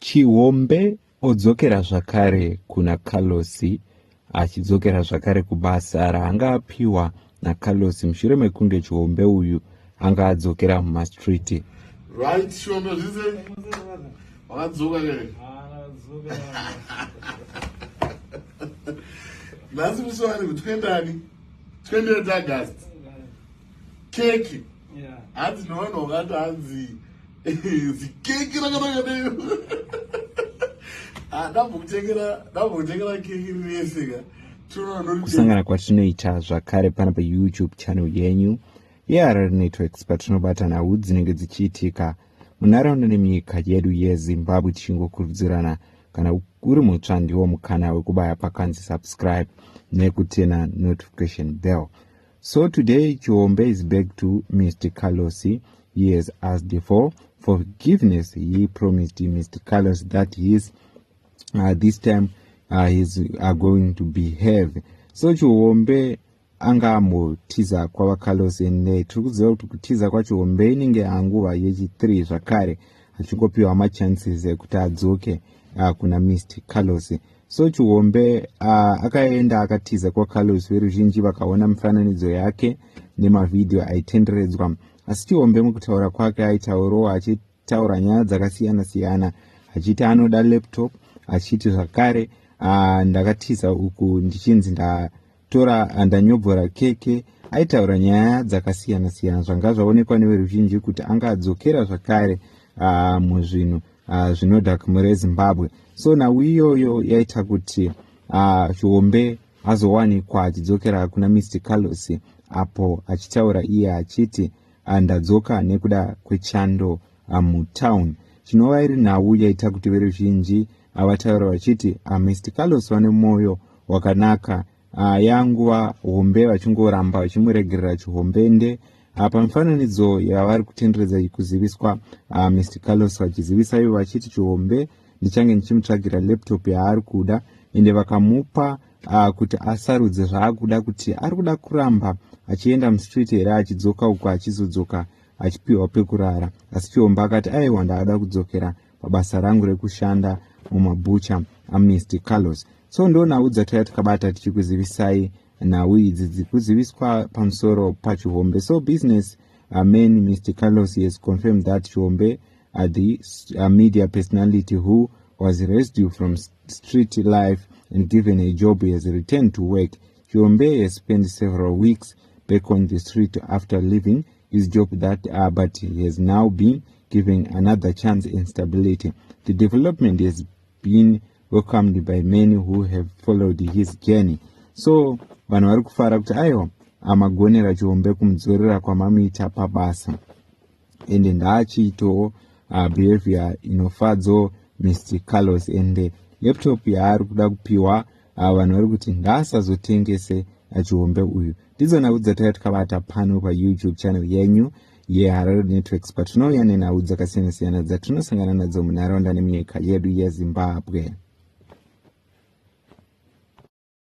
Chihombe odzokera zvakare kuna Carlos achidzokera zvakare kubasa raanga apiwa naCarlos mushure mekunge Chihombe uyu anga adzokera mumastreet. Right, Chihombe zvize. Wakadzoka ke. Nhasi muswani kuti kuendani? Twendere tagast. keki hanzi nevanhu vakati hanzi zikeki rakanaka neyo ah, ndambokutengera ndambokutengera keki rirese ka kusangana kwatinoita zvakare pana payoutube channel yenyu yeharar networks patinobatana hudzi dzinenge dzichiitika munharaunda nemyika yedu yezimbabwe tichingokurudzirana kana uri mutsva ndiwo mukana wekubaya pakanzi subscribe nekutena notification bell So today Chiombe is back to Mr. Carlos. He has asked for forgiveness. He promised Mr. Carlos that he is uh, this time uh, he's uh, going to behave. So Chiombe anga ambotiza kwava Carlos and uh, tiri kuziva kuti kutiza kwaChiombe inenge yanguva yechi3 zvakare achingopiwa machances ekuti adzoke uh, kuna Mr. Carlos. So Chihombe uh, akaenda akatiza kwaCarlos veruzhinji vakaona mifananidzo yake nemavhidhiyo aitenderedzwa. Asi Chihombe mukutaura kwake aitaurawo achitaura nyaya dzakasiyana-siyana achiti anoda laptop achiti zvakare uh, ndakatiza uku ndichinzi nda tora andanyobvora keke aitaura nyaya dzakasiyana siyana zvanga zvaonekwa neveruzhinji kuti anga adzokera zvakare ah, muzvinhu ah, zvinoda kumhuri yezimbabwe so nhau iyoyo yaita kuti ah, chiombe azowanikwa achidzokera kuna mr carlos apo achitaura iye achiti ndadzoka nekuda kwechando mutown chinova iri nhau yaita kuti veruzhinji ava taura vachiti ah, mr carlos vane mwoyo wakanaka ah, yanguva hombe vachingoramba vachimuregerera chihombende ah, pamifananidzo yavari kutenderedza kuziviswa ah, mr carlos vachizivisa ivo vachiti chihombe ndichange ndichimutsvagira laptop yaari kuda ende vakamupa uh, kuti asarudze zvaakuda kuti ari kuda kuramba achienda mustreet here achidzoka uko achizodzoka achipiwa pekurara asi chiomba akati aiwa ndaada kudzokera pabasa rangu rekushanda mumabhucha amnesty carlos so ndo nhau dzatouya tikabata tichikuzivisai nhau idzi dzikuziviswa pamusoro pachihombe so business uh, man mr carlos has confirmed that chihombe uh, the uh, media personality who was rescued from street life and given a job has returned to work chihombe has spent several weeks back on the street after leaving His joke that uh, but he has now been given another chance and stability. The development has been welcomed by many who have followed his journey. So vanhu vari kufara kuti aiwa amagonera chihombe kumudzorera kwamamuita pabasa ende ndaachiitawo uh, behavior inofadzo mr carlos ende laptop yaari kuda kupiwa ava vanhu vari kuti ngaasazotengese achihombe uyu ndidzo nhau dzataiva tikabata pano payoutube channel yenyu yeharare networks patinouya nenhau dzakasiyana-siyana dzatinosangana nadzo munharaunda nemunyika yedu yezimbabwe